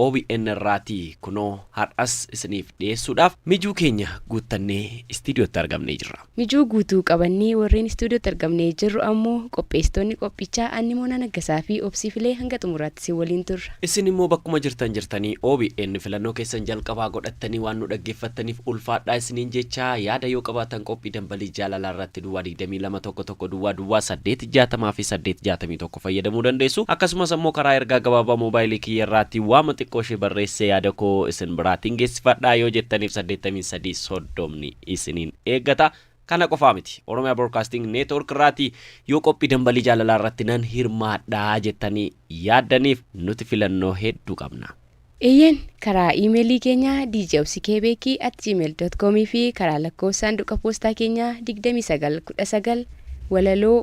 obn irraatii kunoo har'as isiniif dhiyeessuudhaaf mijuu keenya guuttannee istiidiyootti argamnee jirra. Mijuu guutuu qabannee warreen istuudiyootti argamnee jirru ammoo qopheessitoonni qophichaa Anni Moonaa Naggasaa fi Obsii Filee hanga xumuraatti isin waliin turra. Isin immoo bakkuma jirtan jirtanii obn filannoo keessan jalqabaa godhattanii waan nu dhaggeeffattaniif ulfaadhaa isiniin jechaa yaada yoo qabaatan qophii Dambalii Jaalalaa irratti Duwwaa 22 11 Duwwaa Duwwaa 8 60 fi 8 61 tokko fayyadamuu dandeessu. Akkasumas ammoo karaa ergaa gabaabaa moobaayilii kiyya irraatti waama xiqqoo ishee barreessee yaada koo isin biraatiin geessifadha yoo jettaniif saddeettamii sadii soddomni isiniin eeggata. Kana qofaa miti. Oromia Broadcasting Network irraati yoo qophii dambalii jaalalaa irratti nan hirmaadha jettanii yaaddaniif nuti filannoo hedduu qabna. Eeyyeen, karaa iimeelii keenya djobsikebeki@gmail.com fi karaa lakkoofsa saanduqa poostaa keenyaa 2919 Walaloo,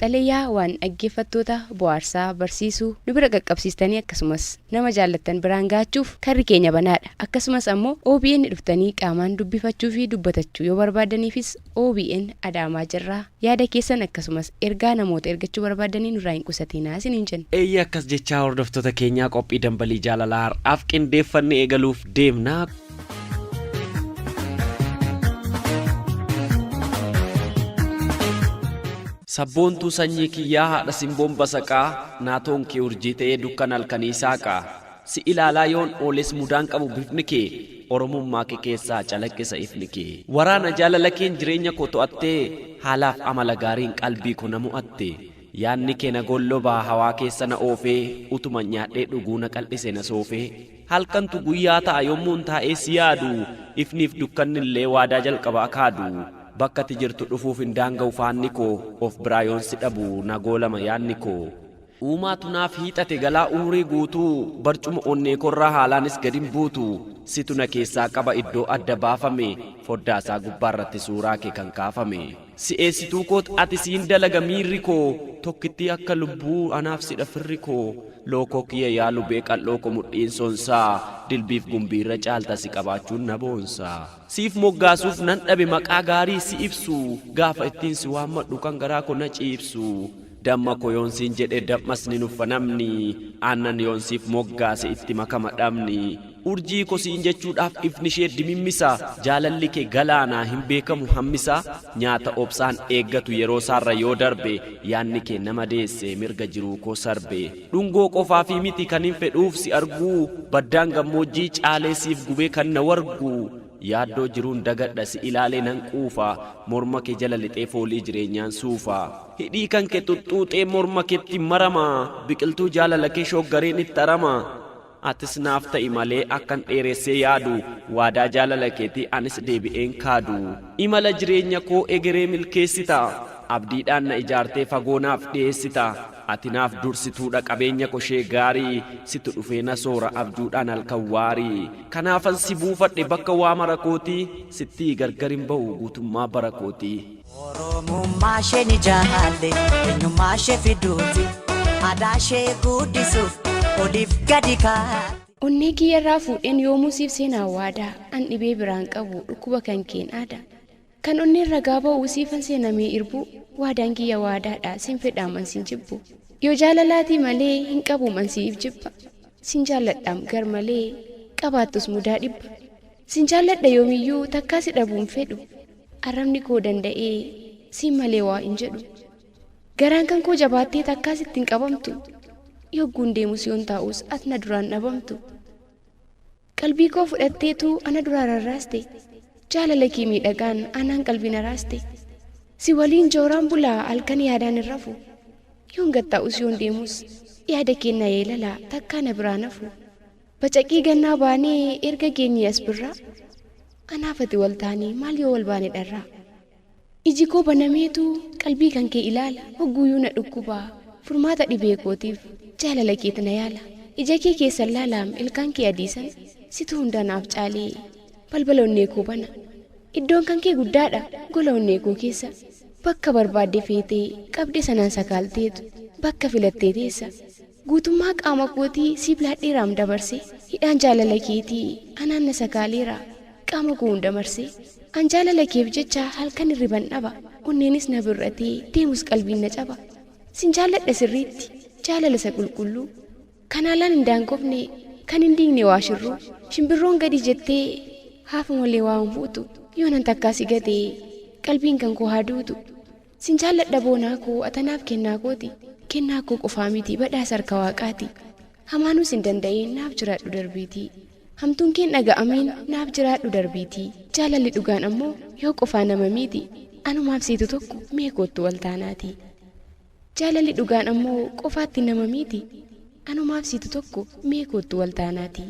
xalayaa waan dhaggeeffattoota bohaarsaa, barsiisu nu bira qaqqabsiistanii akkasumas nama jaallattan biraan gahachuuf karri keenya banaadha. Akkasumas ammoo obn dhuftanii qaamaan dubbifachuu fi dubbatachu yoo barbaaddaniifis OBN Adaamaa jirra. Yaada keessan akkasumas ergaa namoota ergachuu barbaaddanii nurraa hin qusatiinaa isiniin jenna. Eeyyee akkas jechaa hordoftoota keenyaa qophii Dambalii Jaalalaa har'aaf qindeeffanne eegaluuf deemna. Sabboontuu sanyii kiyyaa haadha simboon basaqaa, naatoon kee urjii ta'ee dukkana halkanii saaqaa. Si ilaalaa yoon ooles mudaan qabu bifni kee Oromummaa kee keessaa calaqqisa ifni kee. Waraana jaalala keen jireenya koo to'attee Haalaaf amala gaariin qalbii ko na mo'atte Yaadni kee na gollobaa hawaa keessa na oofee Utuman nyaadhee dhuguu na qal'ise na soofee Halkantu guyyaa ta'a yommuun taa'ee si yaadu Ifniif dukkannillee waadaa jalqaba akaadu Bakka ati jirtu dhufuuf hin daanga'u faanni koo Of biraa yoon si dhabu na goolama yaadni koo. Uumaatu naaf hiixate galaa umrii guutuu Barcuma onneekoorraa haalaanis gadin buutu Situ na keessaa qaba iddoo adda baafame Foddaasaa gubbaarratti suuraake kan kaafame Si'eessituukoot ati siin dalaga miirri koo Tokkittii akka lubbuu anaaf sidha firri koo Lookoo kiyya yaa lubee qal'ooko mudhiin sonsaa Dilbiif gumbiirra caalta si qabaachuun na boonsa. Siif moggaasuuf nan dhabe maqaa gaarii si ibsu Gaafa ittiin si waammadhu kan garaa ko na ciibsu Damma ko yoon siin jedhe dam'as ni nuffa namni Aannan yoon siif moggaase itti makama dhamni Urjii ko siin jechuudhaaf ifnishee dimimmisa Jaalalli kee galaana hin beekamu hammisa Nyaata obsaan eeggatu yeroosaarra yoo darbe Yaanni kee na madeesse mirga jiruu koo sarbe. Dhungoo qofaafii miti kanin fedhuuf si arguu Baddaan gammoojjii caalee siif gubee kan na wargu Yaaddoo jiruun dagadha si ilaalee nan quufa Morma kee jala lixee foolii jireenyaan suufa Hidhii kan kee xuxxuuxee morma keetti marama Biqiltuu jaalalakee shooggareen itti arama Atis naaf ta'i malee akkan dheeressee yaadu Waadaa jaalala keetii anis deebi'een kaadu Imala jireenya koo egeree milkeessita Abdiidhaan na ijaartee fagoo naaf dhiyeessita Ati naaf dursituudha qabeenya ko ishee gaarii Situ dhufee na soora abjuudhaan halkan waarii Kanaafan si buufadhe bakka waa mara kootii Sittii gargar hin ba'u guutummaa bara kootii. Oromummaa ishee ni jaalle eenyummaa ishee fiduuti aadaa ishee guddisuuf oliif gadi kaa'e. Onnee kiyya irraa fuudheen yoomuu siif seenaa waadaa an dhibee biraan qabu dhukkuba kan keen aadaa kan onneen ragaa ba'u siifan seenamee irbuu waadaan kiyya waadaadha sin fedhaam an sin jibbu yoo jaalalaatii malee hin qabuum an siif jibba sin jaalladhaam gar malee qabaattus mudaa dhibba sin jaalladha yoomiyyuu takkaa si dhabuun fedhu Arrabni koo danda'ee siin malee waa hin jedhu. Garaan kan koo jabaattee takkaa sitti hin qabamtu. Yogguun deemus yoon taa'us at na duraan dhabamtu. Qalbii koo fudhatteetu ana duraa rarraaste. Jaalala kee miidhagaan anaan qalbii na raaste. Si waliin jooraan bulaa halkan yaadaan hin rafu. Yoon gad taa'us yoon deemus yaada kee na yeelala takkaa na biraa nafu. Bacaqii gannaa baanee erga geenyee as birraa Anaaf ati wal taanee maal yoo wal baane dharraa Iji koo banameetu qalbii kan kee ilaala Hogguuyuu na dhukkuba furmaata dhibee kootiif Jaalala keet na yaala Ija kee keessan laalaam ilkaan kee adii sana Situ hundaa naaf caalee balbala onnee koo bana Iddoon kan kee guddaadha gola onnee koo keessa Bakka barbaadde feetee qabde sanaan sakaalteetu Bakka filattee teessa Guutummaa qaama kootii si bilaadheeraam dabarse Hidhaan jaalala keetii anaan na sagaaleera Qaama koo hunda marse An jaalala keef jecha halkan hirriban dhaba Onneenis na bir'atee deemus qalbiin na caba Sin jaalladha sirriitti jaalala isa qulqulluu Kan haalaan hin daangofne kan hin diigne waa shirruu Shimbirroon gadi jettee haafu malee waa hin fuutu Yoonan takkaa si gate qalbiin kan koo haa duutu. Sin jaalladha boonaa koo ata naaf kennaa kooti Kennaa koo qofaa miti badhaasa harka waaqaati Hamaanuu sin danda'ee naaf jiraadhu darbiitii Hamtuun keen dhaga'amiin naaf jiraadhu darbiitii Jaalalli dhugaan ammoo yoo qofaa nama miiti Anumaaf siitu tokko mee koottu wal taanaatii Jaalalli dhugaan ammoo qofaatti nama miiti Anumaaf siitu tokko mee koottu wal taanaatii.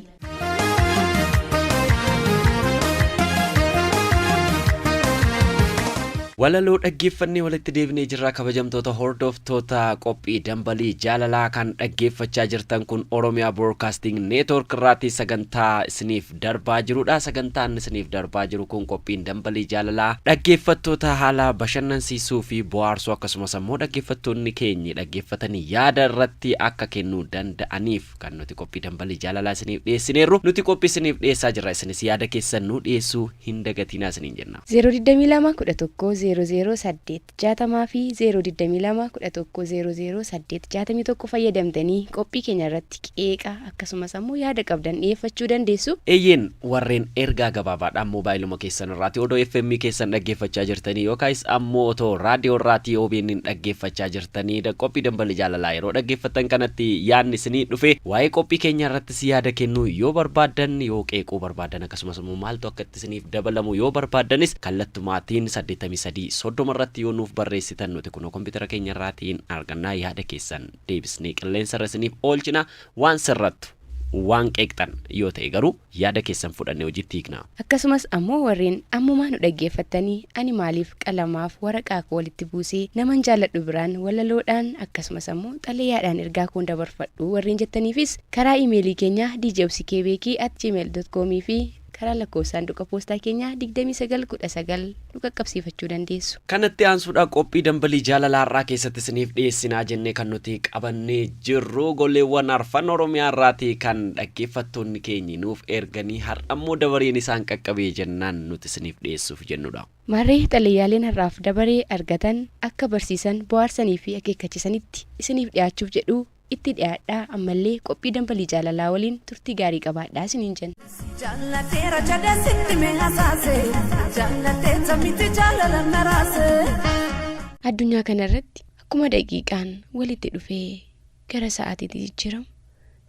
Walaloo dhaggeeffannee walitti deebinee jirra kabajamtoota hordoftoota qophii dambalii jaalalaa kan dhaggeeffachaa jirtan kun Oromiyaa Broadcasting Network irraati sagantaa isiniif darbaa jirudha. Sagantaan isiniif darbaa jiru kun qophiin Dambalii Jaalalaa dhaggeeffattoota haala bashannansiisuu fi bohaarsuu akkasumas ammoo dhaggeeffattoonni keenyi dhaggeeffatanii yaada irratti akka kennuu danda'aniif kan nuti qophii Dambalii Jaalalaa isiniif dhiyeessineerru. Nuti qophii isiniif dhiyeessaa jirra isinis yaada keessan nuu dhiyeessuu hin dagatiinaa isiniin jenna. 022 11 00 8. 60 fi 0 22 11 00 8 61 fayyadamtanii qophii keenya irratti qeeqa akkasumas ammoo yaada qabdan dhiyeeffachuu dandeessu. Eeyyeen, warreen ergaa gabaabaadhaan moobaayiluma keessan irraati odoo FM keessan dhaggeeffachaa jirtanii yookaayis ammoo otoo raadiyoo irraatii OBNn dhaggeeffachaa jirtanii da qophii Dambali Jaalalaa yeroo dhaggeeffattan kanatti yaadni isinii dhufe waa'ee qophii keenyaa irrattis yaada kennuu yoo barbaaddan yoo qeequu barbaaddan akkasumas ammoo maaltu akka irratti isiniif dabalamu yoo barbaaddanis kallattumaatiin 83 30 irratti yoo nuuf barreessitan nuti kunoo kompiitara keenya irraatiin arganna yaada keessan deebisnee qilleensa irra isiniif oolchina waan sirrattu waan qeeqxan yoo ta'e garuu yaada keessan fudhannee hojiitti hiikna. Akkasumas ammoo warreen ammumaa nu dhaggeeffattanii ani maaliif qalamaaf waraqaa koo walitti buusee naman jaalladhu biraan walaloodhaan akkasumas ammoo xalayaadhaan ergaa koon dabarfadhu warreen jettaniifis karaa imeelii keenyaa djobsikebeekii@gmail.com fi Karaa lakkoofsa saanduqa poostaa keenyaa 2919 nu qaqqabsiifachuu dandeessu. Kanatti aansuudhaan qophii Dambalii Jaalalaa har'aa keessatti isiniif dhiyeessinaa jennee kan nuti qabannee jirru goleewwan arfan Oromiyaa irraatii kan dhaggeeffattoonni keenyi nuuf erganii har'ammoo dabareen isaan qaqqabee jennaan nuti isiniif dhiyeessuuf jennudha. Maarree xalayaaleen har'aaf dabaree argatan akka barsiisan, bohaarsanii fi akeekkachisanitti isiniif dhiyaachuuf jedhu Itti dhiyaadhaa ammallee qophii Dambalii Jaalalaa waliin turtii gaarii qabaadhaa isiniin jenna. Si jaallateera jedhee sitti mee hasaase jaallatteetta miti jaalala na raase. Addunyaa kana irratti akkuma daqiiqaan walitti dhufee gara sa'aatiitti jijjiiramu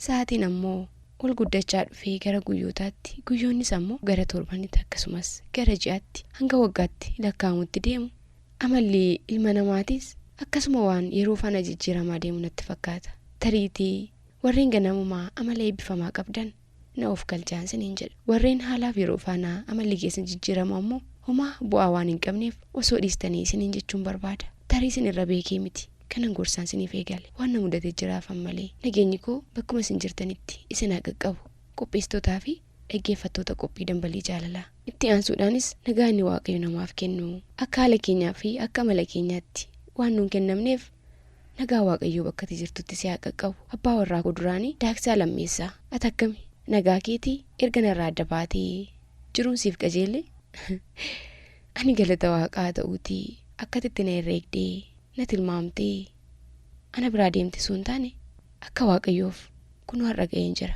sa'aatiin ammoo ol guddachaa dhufee gara guyyootaatti guyyoonnis ammoo gara torbanitti akkasumas gara ji'atti hanga waggaatti lakkaa'amutti deemu Amalli ilma namaatis akkasuma waan yeroo faana jijjiiramaa deemu natti fakkaata. Tariitii warreen ganamumaa amala eebbifamaa qabdan na of galchaan siniin jedha. Warreen haalaaf yeroo faana amalli keessan jijjiiramu ammoo homaa bu'aa waan hin qabneef osoo dhiistanii isiniin jechuun barbaada. Tarii sin irra beekee miti kanan gorsaan siniif eegale. Waan na mudate jiraaf ammalee. Nageenyi koo bakkuma isin jirtanitti isin haa qaqqabu. Qopheessitootaa fi dhaggeeffattoota qophii Dambalii Jaalalaa. Itti aansuudhaanis nagaa inni Waaqayyo namaaf kennu akka haala keenyaa fi akka amala keenyaatti waan nuun kennamneef nagaa Waaqayyoo bakka ati jirtutti si haa qaqqabu. Abbaa warraa koo duraanii Daaksaa Lammeessaa. Ati akkami? Nagaa keeti? Erga narraa adda baatee jiruun siif qajeelee? Ani galata Waaqaa haa ta'uutii akka ati itti na herreegdee, na tilmaamtee ana biraa deemte osoo hin taane, Akka Waaqayyoof, kunoo har'a ga'een jira.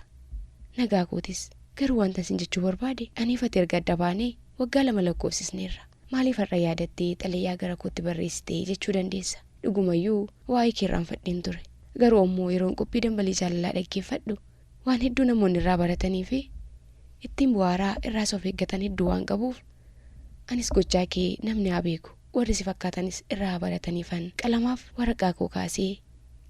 Nagaa kootis. Garuu wantan sin jechuu barbaade, aniif ati erga adda baanee waggaa lama lakkoofsisneerra. Maaliif har'a yaadattee xalayaa gara kootti barreessite jechuu dandeessa. Dhugumayyuu, waa'ee kee irraanfadheen ture. Garuu ammoo yeroon qophii dambalii jaalalaa dhaggeeffadhu, waan hedduu namoonni irraa baratanii fi ittiin bu'aaraa irraas of eeggatan hedduu waan qabuuf, anis gochaa kee namni haa beeku. warri si fakkaatanis irraa haa barataniifan qalamaaf waraqaa koo kaasee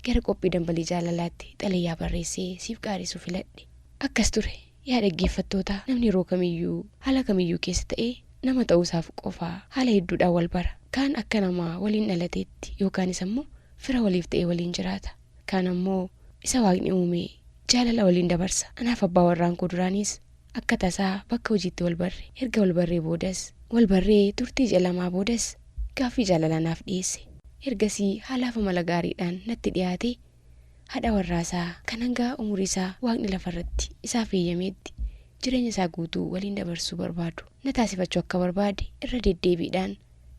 gara qophii dambalii jaalalaatti xalayaa barreessee siif qaaressuu filadhe. Akkas ture, yaa dhaggeeffattootaa, namni yeroo kamiyyuu, haala kamiyyuu keessa ta'e nama ta'uusaaf qofa haala hedduudhaan wal bara. Kaan akka nama waliin dhalateetti yookaanis ammoo fira waliif ta'ee waliin jiraata. Kaan ammoo isa Waaqni uumee jaalala waliin dabarsa. Anaaf abbaa warraan koo duraaniis Akka tasaa bakka hojiitti wal barre. Erga wal barree boodas. Wal barree turtii ji'a lamaa boodas gaaffii jaalalaa naaf dhiyeesse. Ergasii haalaaf amala gaariidhaan natti dhiyaatee haadha warraasaa kan hanga umuriisaa Waaqni lafarratti isaaf heyyameetti jireenyasaa guutuu waliin dabarsuu barbaadu na taasifachuu akka barbaade irra deddeebiidhaan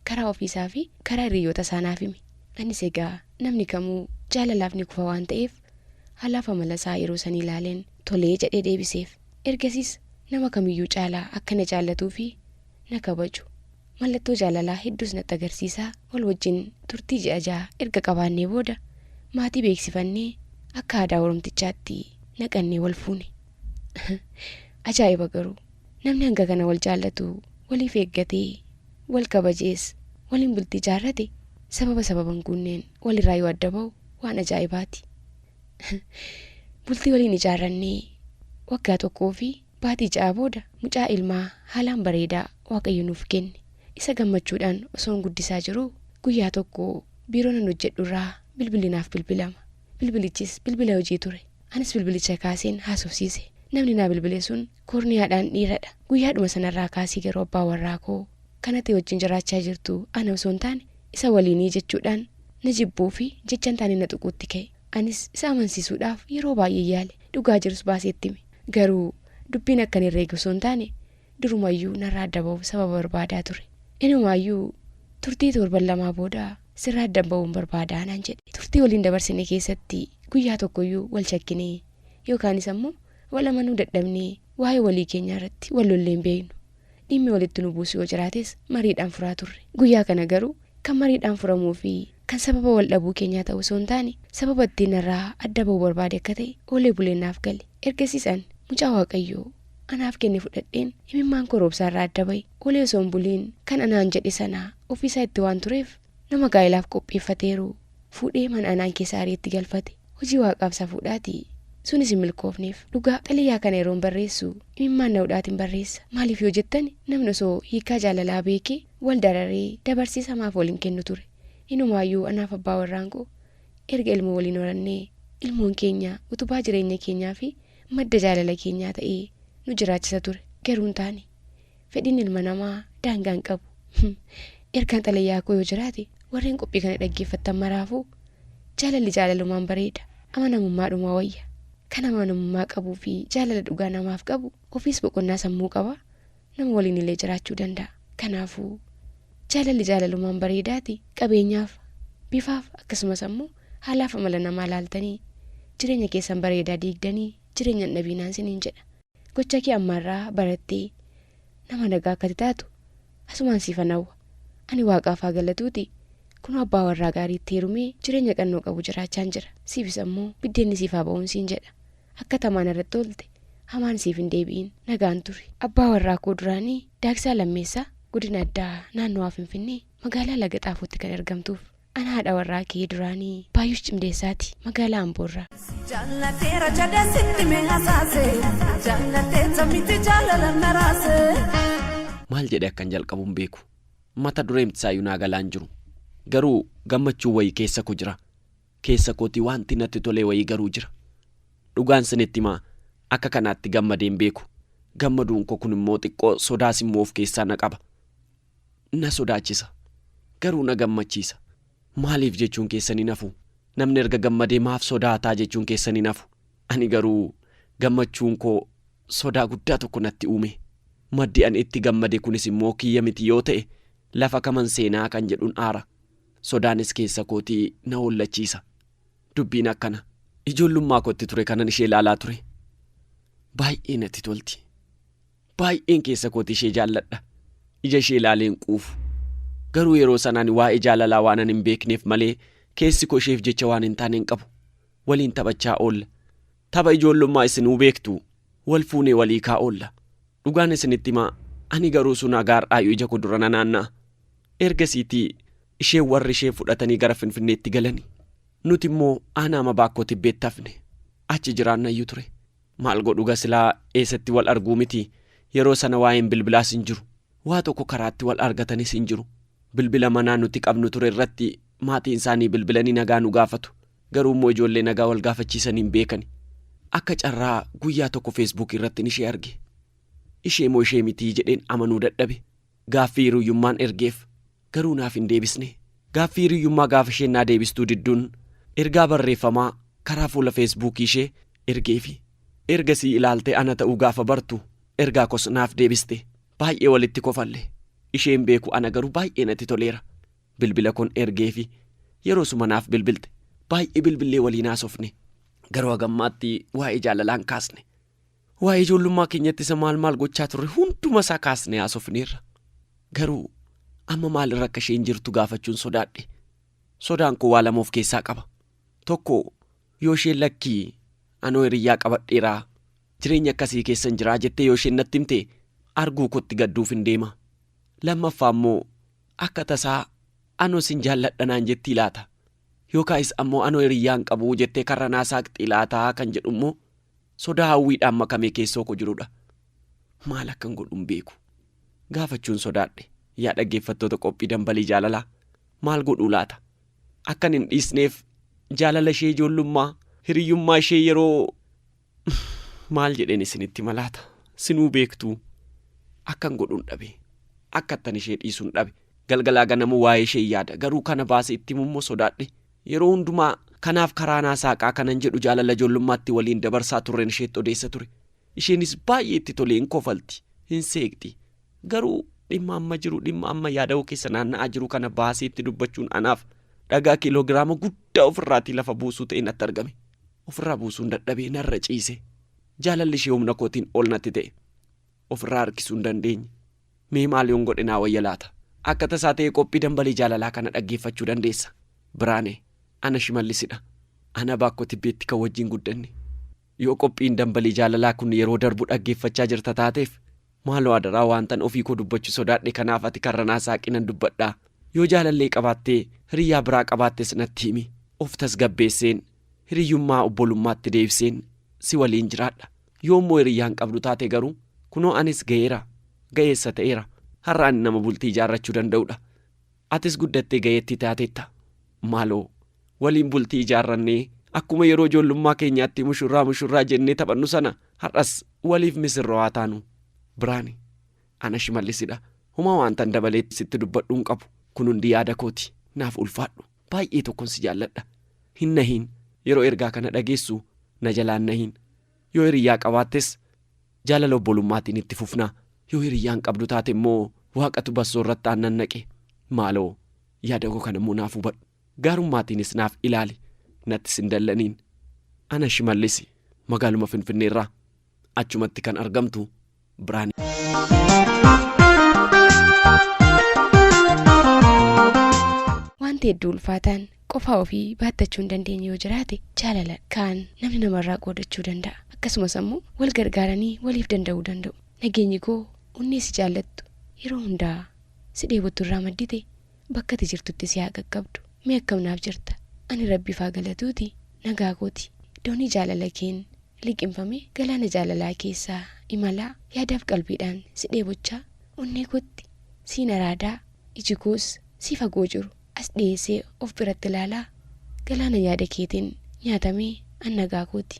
karaa ofiisaafi karaa hiriyyootasaa naaf hime. Anis egaa namni kamuu jaalalaaf ni kufa waan ta'eef Haalaaf amala isaa yeroo sanii laaleen tolee jedhee deebiseef. Ergasiis nama kamiyyuu caalaa akka na jaallatuu fi na kabaju mallattoo jaalalaa hedduus natti agarsiisaa wal wajjin turtii ji'a jaha erga qabaannee booda maatii beeksifannee akka aadaa Oromtichaatti naqannee wal fuune. Ajaa'iba garuu! Namni hanga kana wal jaallatu waliif eeggatee wal kabajees waliin bultii jaarrate sababa sababa hin guunneen wal irraa yoo adda bahu Waan ajaa'ibaati. Bultii waliin ijaarrannee waggaa tokkoo fi baatii ja'a booda mucaa ilmaa haalaan bareedaa Waaqayyo nuuf kenne. Isa gammachuudhaan osoon guddisaa jiruu guyyaa tokko biiroo nan hojjedhu irraa bilbilli naaf bilbilama. Bilbilichis bilbila hojii ture. Anis bilbilicha kaaseen haasofsiise. Namni naa bilbile sun koorniyaadhaan dhiiradha. Guyyaadhuma sanarraa kaasii garuu abbaa warraakoo kan ati wajjin jiraachaa jirtu ana osoo hin taane isa waliinii jechuudhaan na jibbuu fi jechan taane na tuquutti ka'e. Anis isa amansiisuudhaaf yeroo baay'ee yaale, dhugaa jirus baasee itti hime. Garuu dubbiin akkan herreege osoo hin taane durumayyuu narraa adda ba'uuf sababa barbaadaa ture. Inumaayyuu turtii toorban lamaa booda sirraa addan ba'uun barbaada naan jedhe. Turtii waliin dabarsine keessatti guyyaa tokkoyyuu wal shakkinee yookaanis ammoo wal amanuu dadhabnee waa'ee walii keenyaa irratti wal lollee hin beeknu. Dhimmi walitti nu buusu yoo jiraates mariidhaan furaa turre. Guyyaa kana garuu kan mariidhaan furamuu fi kan sababa wal dhabuu keenyaa ta'uu osoo hin taane sababa ittiin narraa adda bahu barbaade akka ta'e oolee buleen naaf gale. Ergasiis an mucaa Waaqayyo anaaf kenne fudhadheen imimmaan koo roobsaarraa adda bahe. Oolee osoo hin buliin kan anaan jedhe sana ofiisaa itti waan tureef Nama gaa'elaaf qopheeffateeru fuudhee mana anaan keessa ari'ee itti galfate. Hojii Waaqaaf safuudhaati. Sunis hin milkoofneef. Dhugaa, xalayaa kana yeroon barreessu imimmaan na hudhaatin barreessa. Maaliif yoo jettani, namni osoo hiikaa jaalalaa beekee wal dararee dabarsee isa maaf wal hin kennu ture? Inumaayyuu anaaf abbaa warraan koo erga ilmoo waliin horannee, ilmoon keenya utubaa jireenya keenyaa fi madda jaalala keenyaa ta'ee nu jiraachisa ture. Garuu hin taane. Fedhiin ilma namaa daangaa hin qabu. Ergaan xalayaa koo yoo jiraate warreen qophii kana dhaggeeffattan maraafuu jaalalli jaalalumaan bareeda, amanamummaadhuma wayya. Kan amanamummaa qabuu fi jaalala dhugaa namaaf qabu ofiis boqonnaa sammuu qaba, nama waliin illee jiraachuu danda'a. Kanaafuu, jaalalli jaalalumaan bareedaati. Qabeenyaaf, bifaaf akkasumas ammoo haalaaf amala namaa laaltanii jireenya keessan bareedaa diigdanii jireenya hin dhabiinaan siniin jedha. Gocha kee ammaarraa barattee nama nagaa akka ati taatu asumaan siifan hawwa. Ani Waaqaaf haa galatuutii kunoo abbaa warraa gaarii itti heerumee jireenya qannoo qabu jiraachaan jira. Siifis ammoo biddeenni siif haa ba'uun siin jedha. Akka tamaa narratti oolte hamaan siif hin deebi'in. Nagaan turi. Abbaa warraa koo duraanii Daagsaa Lammeessaa godina addaa naannawaa Finfinnee magaalaa Laga Xaafootti kan argamtuuf. An haadha warraa kee duraanii Baayush Cimdeessaati. Magaalaa Amboo irraa. Jaallateera jedhee sitti mee hasaase jaallateetta miti jaalala naraase. Maal jedhee akkan jalqabu hin beeku. Mata dureemtisaayyuu naa galaa hin jiru. Garuu gammachuun wayii keessa koo jira. Keessa kootii waanti natti tolee wayii garuu jira. Dhugaan sinitti himaa akka kanaatti gammadee hin beeku. Gammaduun koo kunimmoo xiqqoo sodaas immoo of keessaa na qaba. na sodaachisa, garuu na gammachiisa. Maaliif jechuun keessan hin hafu. Namni erga gammadee maaf sodaata jechuun keessan hin hafu. Ani garuu gammachuun koo sodaa guddaa tokko natti uume. Maddi ani itti gammade kunis immoo kiyya miti yoo ta'e lafa kaman seenaa kan jedhun aara. Sodaanis keessa kootii na hollachiisa. Dubbiin akkana. Ijoollummaa kootti ture kanan ishee ilaalaa ture. Baay'ee natti tolti. Baay'een keessa kootii ishee jaalladha. Ija ishee ilaalee hin quufu. Garuu yeroo sana ani waa'ee jaalalaa waanan hin beekneef malee keessi koo isheef jecha waan hin taane hin qabu. Waliin taphachaa oolla. Tapha ijoollummaa isinuu beektu. Wal fuunee wal hiikaa oolla. Dhugaan isinitti himaa ani garuu sun haga har'aayyuu ija koo dura nanaanna'a. Ergasiitii isheen warri ishee fudhatanii gara Finfinneetti galani. Nuti immoo aanaa Mabaakkoo Tibbeetti hafne. Achi jiraannayyuu ture. Maal godhuga silaa eessatti wal arguu miti yeroo sana waa'een bilbilaas hin jiru. Waa tokko karaatti wal argatanis hin jiru. Bilbila manaa nuti qabnu ture irratti maatiin isaanii bilbilanii nagaa nu gaafatu. Garuu immoo ijoollee nagaa wal gaafachiisanii hin beekani. Akka carraa guyyaa tokko Facebook irrattin ishee arge. Ishee moo ishee mitii jedheen amanuu dadhabe. Gaaffii hiruyyummaan ergeef garuu naaf hin deebisne. Gaaffii hiruyyummaa gaafa isheen naa deebistuu didduun ergaa barreeffamaa karaa fuula Facebook ishee ergeefi. Ergasii ilaaltee ana ta'uu gaafa bartu ergaa koos naaf deebiste. Baay'ee walitti kofalle. Ishee hin beeku ana garuu baay'ee natti toleera. Bilbila koon ergeefi. Yeroosuma naaf bilbilte. Baay'ee bilbillee waliin haasofne. Garuu hagammaatti waa'ee jaalalaa hin kaasne. Waa'ee ijoollummaa keenyatti isa maal maal gochaa turre hunduma isaa kaasnee haasofneerra. Garuu amma maalirra akka isheen jirtu gaafachuun sodaadhe. Sodaan koo waa lama of keessaa qaba. Tokko yoo isheen lakkii anoo hiriyyaa qabadheeraa jireenya akkasii keessan jiraa jettee yoo isheen natti himte arguu kootti gadduuf hin deema. Lammaffaa immoo akka tasaa anoo sin jaalladha naan jettii laata? Yookaayis ammoo anoo hiriyyaa hin qabu jettee karra naa saaqxii laataa kan jedhu immoo Sodaa hawwiidhaan makamee keessoo koo jirudha. Maal akkan godhu hin beeku. Gaafachuun sodaadhe. Yaa dhaggeeffattoota qophii dambalii jaalalaa maal godhuu laata? Akkan hin dhiisneef jaalala ishee ijoollummaa hiriyyummaa ishee yeroo maal jedheen isinitti hima laata? Sinuu beektuu akkan godhuun dhabe. Akkattan ishee dhiisuun dhabe. Galgalaa ganama waa'ee ishee yaada. Garuu kana baase itti himummoo sodaadhe. Yeroo hundumaa kanaaf karaa naa saaqaa kanan jedhu jaalala ijoollummaatti waliin dabarsaa turren isheetti odeessa ture. Isheenis baay'ee itti tolee hin kofalti, hin seeqxi. Garuu dhimma amma jiru, dhimma amma yaadawoo keessa naanna'aa jiru kana baasee itti dubbachuun anaaf dhagaa kiiloogiraama guddaa ofirraatii lafa buusuu ta'ee natti argame. Ofirraa buusuun dadhabee narra ciise. Jaalalli ishee humna kootiin ol natti ta'e. of irraa harkisuu hin dandeenye. Mee maal yoon godhe naa wayya laata? Akka tasaa ta'ee qophii Dambalii Jaalalaa kana dhaggeeffachuu dandeessa. Biraanee, Ana Shimallisidha. Ana Baakkoo Tibbeetti kan wajjin guddanne. Yoo qophiin Dambalii Jaalalaa kun yeroo darbu dhaggeeffachaa jirta taateef, maaloo adaraa waantan ofii koo dubbachu sodaadhe kanaaf ati karra naa saaqi nan dubbadha. Yoo jaalallee qabaattee hiriyyaa biraa qabaattes natti himi. Of tasgabbeesseen, hiriyyummaa obbolummaatti deebiseen si waliin jiraadha. Yoo immoo hiriyyaa hin qabdu taate garuu, kunoo anis ga'eera, ga'eessa ta'eera. Har'a ani nama bultii ijaarrachuu danda'u dha. Atis guddattee ga'eettii taatetta. Maaloo, waliin bultii ijaarrannee, akkuma yeroo ijoollummaa keenyaatti mushurraa mushurraa jennee taphannu sana har'as waliif misirroo haa taanu. Biraane, Ana Shimallis dha. Homaa waantan dabalee sitti dubbadhu hin qabu. Kun hundi yaada kooti. Naaf ulfaadhu. Baay'ee tokkon si jaalladha. Hin nahiin. Yeroo ergaa kana dhageessu na jalaa hin nahiin. Yoo hiriyyaa qabaattes jaalala obbolummaatiin itti fufna. Yoo hiriyyaa hin qabdu taate immoo Waaqatu bassoo irratti aannan naqe. Maaloo yaada koo kana immoo naaf hubadhu. Gaarummaatiinis naaf ilaali. Nattis hin dallaniin. Ana Shimallisi, magaaluma Finfinnee irraa. achumatti kan argamtu Birhaan. Wanti hedduu ulfaataan qofaa ofii baattachuu hin dandeenye yoo jiraate jaalala kaan namni namarraa qoodachuu danda'a. Akkasumas ammoo wal gargaaranii waliif danda'uu danda'u. Nageenyi koo onnee si jaallattu yeroo hundaa si dheebottu irraa maddite Bakka ati jirtutti si haa qaqqabdu. Mee akkam naaf jirta? Ani Rabbiif haa galatuuti nagaa kooti. Doonii jaalala keen liqimfame galaana jaalalaa keessa imalaa yaadaaf qalbiidhaan si dheebochaa onnee kootti siin araadaa iji koos sii fagoo jiru as dhiyeessee of biratti ilaalaa galaana yaada keetiin nyaatame an nagaa kooti.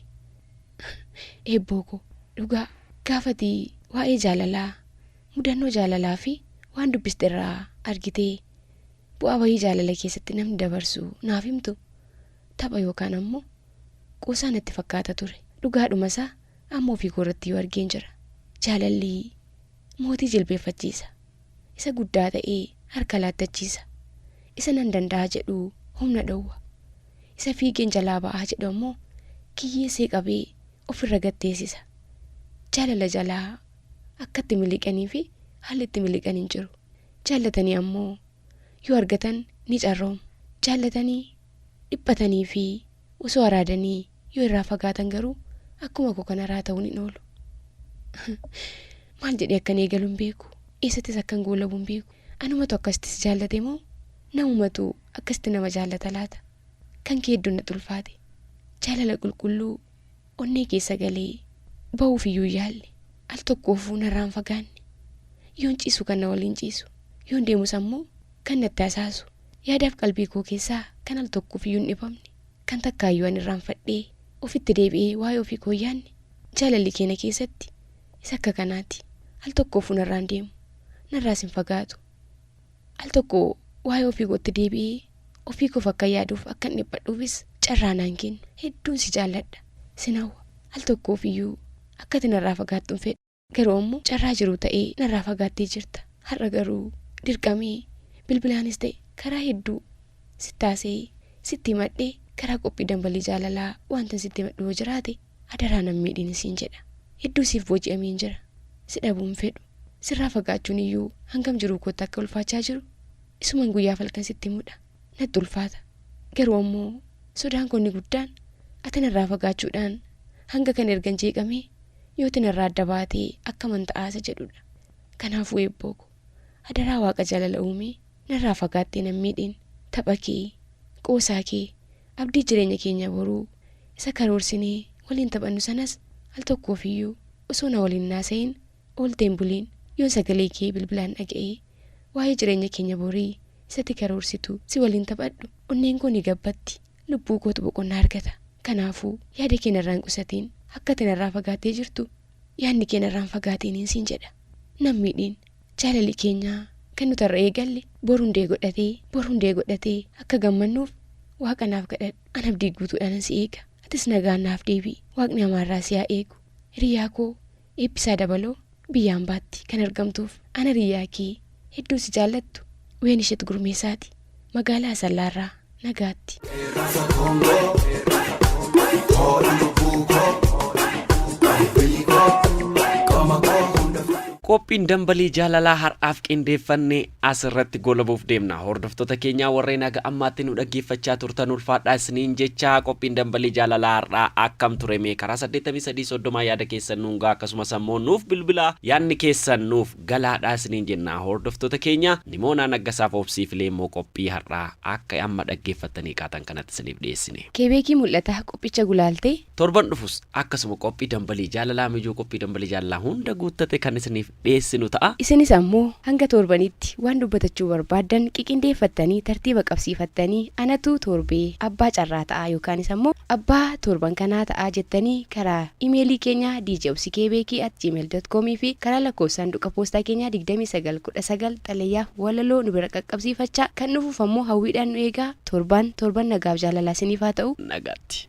Eebboo koo. Dhugaa gaafa ati waa'ee jaalalaa Mudannoo jaalalaa fi waan dubbiste irraa argitee bu'aa bahii jaalala keessatti namni dabarsu naaf himtu? Tapha yookaan ammoo qoosaa natti fakkaata ture. Dhugaadhuma isaa amma ofii koorrattiyyuu argeen jira. Jaalalli mootii jilbeeffachiisa. Isa guddaa ta'ee harka laattachiisa. Isa nan danda'a jedhu humna dhowwa. Isa fiigeen jalaa ba'aa jedhu ammoo kiyyeessee qabee ofirra gad teessisa. Jaalala jalaa akka itti miliqanii fi haalli itti miliqan hin jiru. Jaallatanii ammoo yoo argatan ni carroomu. Jaallatanii, dhiphatanii fi osoo araadanii yoo irraa fagaatan garuu akkuma koo kana irraa ta'uun hin oolu. Maal jedhee akkan eegalu hin beeku. Eessattis akkan goolabu hin beeku. Anumatu akkasitti si jaallate moo namumatu akkasitti nama jaallata laata? Kan kee hedduun natti ulfaate. Jaalala qulqulluu Onnee keessa galee bahuuf iyyuu hin yaalle. Al tokkoofuu narraa hin fagaanne. Yoon ciisu kan na waliin ciisu, yoon deemus ammoo kan natti hasaasu, yaadaaf qalbii koo keessaa kan al tokkoof iyyuu hin dhipamne, kan takkaa iyyuu an irraanfadhee ofitti deebi'ee waa'ee ofii koo hin yaanne jaalalli kee na keessatti isa akka kanaati. Al tokkoofuu narraa hin deemu, narraas hin fagaatu. Al tokko waa'ee ofii kootti deebi'ee ofii koof akkan yaaduuf, akkan dhiphadhuufis carraa naan kennu. Hedduun si jaalladha. Sin hawwa. Al tokkoof iyyuu akka ati narraa fagaattu hin fedhu. Garuu ammoo carraa jiruu ta'ee narraa fagaattee jirta. Har'a garuu dirqamee bilbilaanis ta'e karaa hedduu sitti haasa'ee, sitti himadhee karaa qophii Dambalii Jaalalaa wantan sitti himadhu yoo jiraate, Adaraa nan miidhiin siin jedha. Hedduu siif booji'ameen jira. Si dhabuu hin fedhu. Sirraa fagaachuun iyyuu hangam jiruu kootti akka ulfaachaa jiru isuman guyyaaf halkan sitti himudha. Natti ulfaata. Garuu ammoo sodaan koo inni guddaan ati narraa fagaachuudhaan hanga kana ergan jeeqamee yooti narraa adda baatee akkaman ta'aa isa jedhudha. Kanaafuu Eebbooko. Adaraa waaqa jalala uume narraa fagaattee nan miidhin tapha kee qoosaa kee abdii jireenya keenya boruu isa karoorsinee waliin taphannu sanas al tokkoof iyyuu osoo na waliin hin haasa'iin ooltee hin buliin yoon sagalee kee bilbilaan dhaga'ee waa'ee jireenya keenya borii isatti karoorsitu si waliin taphadhu onneen koo ni gabbatti lubbuu kootu boqonnaa argata. Kanaafuu, yaada kee narraa hin qusatiin. Akka ati narraa fagaattee jirtu, yaadni kee narraa hin fagaatiiniin siin jedha. Na hin miidhiin. Jaalalli keenya kan nuti har'a eegalle bor hundee godhatee, bor hundee godhatee akka gammannuuf Waaqa naaf kadhadhu. An abdii guutuudhaanan si eega. Atis nagaan naaf deebi'i. Waaqni amaarraa si haa eegu. Hiriyaa koo, Eebbisaa Dabaloo biyya ambaatti kan argamtuuf an hariyaa kee hedduu si jaallattu Weenishet Gurmeesaati magaalaa Asallaa irraa nagaatti. Rasa Congo, Ora Lubuko, Riko, Komako, Hunda Fatu. Qophiin dambalii jaalalaa har'aaf qindeeffanne As irratti goolabuuf deemna. Hordoftoota keenyaa warreen haga ammaatti nu dhaggeeffachaa turtan ulfaadhaa isiniin jecha, qophiin Dambalii Jaalalaa har'aa akkam ture mee karaa 83 30 yaada keessan nuun gahaa akkasumas ammoo nuuf bilbilaa yaadni keessan nuuf galaadhaa isiniin jenna hordoftoota keenya Nimoonaa Naggasaa fi Obsii Filee immoo qophii har'aa akka amma dhaggeeffattanii kaatan kanatti isiniif dhiyeessine. Keebeekii mul'ata qophicha gulaalte. Torban dhufus akkasuma qophii Dambalii Jaalalaa Mijoo qophii Dambalii Jaalalaa hunda guuttate kan isiniif dhiyeessinu ta'a. Isinis ammoo hanga torbaniitti waan dubbatachuu barbaaddan qiqindeeffattanii tartiiba qabsiifattanii anatu torbee abbaa carraa ta'a yookaanis ammoo abbaa torban kanaa ta'a jettanii karaa imeelii keenya djobsikebeekii at gmail dot com fi karaa lakkoofsa saanduqa poostaa keenyaa 29 19 xalayaaf walaloo nu bira qaqqabsiifachaa kan dhufuuf ammoo hawwiidhaan nu eegaa torbaan torban nagaaf jaalalaa isiniif haa ta'u nagaatti.